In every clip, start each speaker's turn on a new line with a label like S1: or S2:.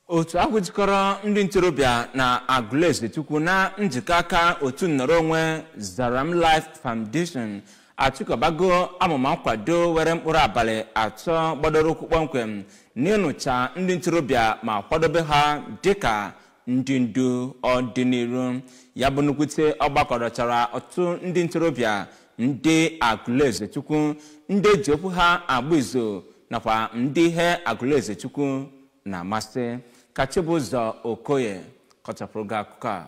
S1: otu ahụ jikọrọ ndị ntorobịa na agụlụezechukwu na njikọ aka otu nnọrọ onwe zaram life foundation achịkọbago amụma nkwado were mkpụrụ abalị atọ gbadoro ụkwụ kpọmkwem n'ịnụcha ndị ntorobịa ma kwadobe ha dịka ndị ndu ọdịnihu ya bụ nnukwute ọgbakọ dọchara ọtụtụ ndị ntorobịa ndị agụlụezechukwu ndị eji okwu ha agba izu nakwa ndị ihe agụlụezechukwu na-amasị ka Chibụzọ Okoye kọchapụrụ gị akụkọ a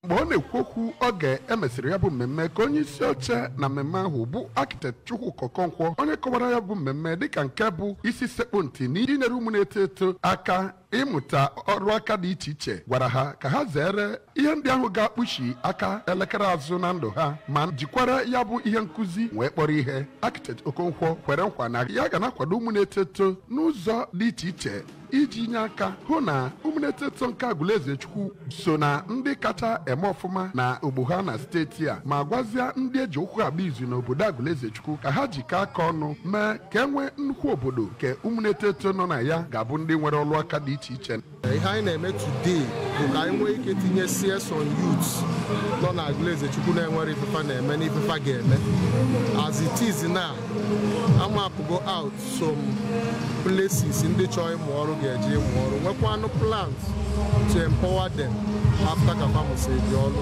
S2: mgbe ọ na-ekwu okwu oge emesịrị ya bụ mmemme ka onye isi oche na mmemme ahụ bụ architect Chukwuka Okonkwo onye kọwara ya bụ mmemme dịka nke bụ isi sekpu ntị na inyere ụmụ na-eto eto aka ịmụta ọrụ aka dị iche iche gwara ha ka ha zere ihe ndị ahụ ga-akpụchi aka elekere azụ na ndụ ha ma jikwara ya bụ ihe nkụzi wee kpọrọ ihe architect Okonkwo kwere nkwa na ya ga na-akwado ụmụ na-eto eto n'ụzọ dị iche iche iji nye aka hụ na ụmụ na-eto eto nke Agụlụezechukwu so na ndị kacha eme ọfụma na ọgbọ ha na steeti a ma gwazie ndị eji okwu ha agba izu n'obodo Agụlụezechukwu ka ha jikọọ aka ọnụ mee ka e nwee nnukwu obodo nke ụmụ na-eto eto nọ na ya ga-abụ ndị nwere ọrụ aka dị iche iche ihe anyị
S3: na-eme today bụ ka anyị nwee ike tinye CS on youth nọ na Agụlụezechukwu na-enwere ife fa na-eme na ife fa ga-eme as it is now a mapụgo out some places ndị chọrọ ịmụ ọrụ ga-eje ịmụ ọrụ nwekwanụ plans to empower them after ka fa mụsịrị ọrụ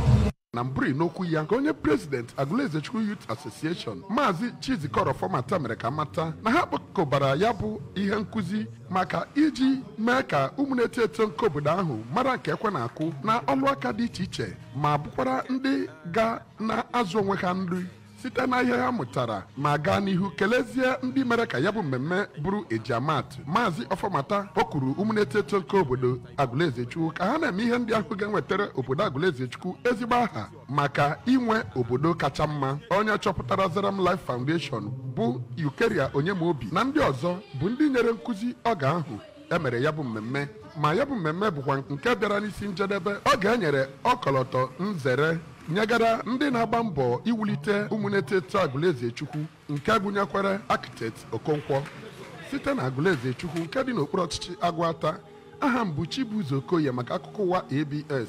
S3: na mbụri
S2: n'okwu ya ka onye president Agụlụezechukwu Youth Association maazị Chizikọrọ Ọfọmata mere ka a mata na ha kpọkọbara ya bụ ihe nkụzi maka iji mee ka ụmụ na-eto eto nke obodo ahụ mara nke ekwe na-akụ na ọlụ aka dị iche iche ma bụkwara ndị ga na-azụ onwe ha nri site na ihe ha mụtara ma gaa n'ihu kelezie ndị mere ka ya bụ mmemme bụrụ eji ama atụ maazị ọfọmata kpọkuru ụmụ na-eto eto nke obodo agụlụezechukwu ka ha na-eme ihe ndị ahụ ga-enwetara obodo agụlụezechukwu ezigbo aha maka inwe obodo kacha mma onye chọpụtara Zaram Life Foundation bụ Eucharia Onyemaobi na ndị ọzọ bụ ndị nyere nkụzi oge ahụ e mere ya bụ mmemme ma ya bụ mmemme bụkwa nke bịara n'isi njedebe oge e nyere ọkọlọtọ nzere nyegara ndị na-agba mbọ iwulite ụmụ na-eto eto Agụlụezechukwu nke gụnyekwara Architect Okonkwo site na Agụlụezechukwu nke dị n'okpuru ọchịchị Agụata aha m bụ Chibụzọ Okoye maka akụkọ ụwa ABS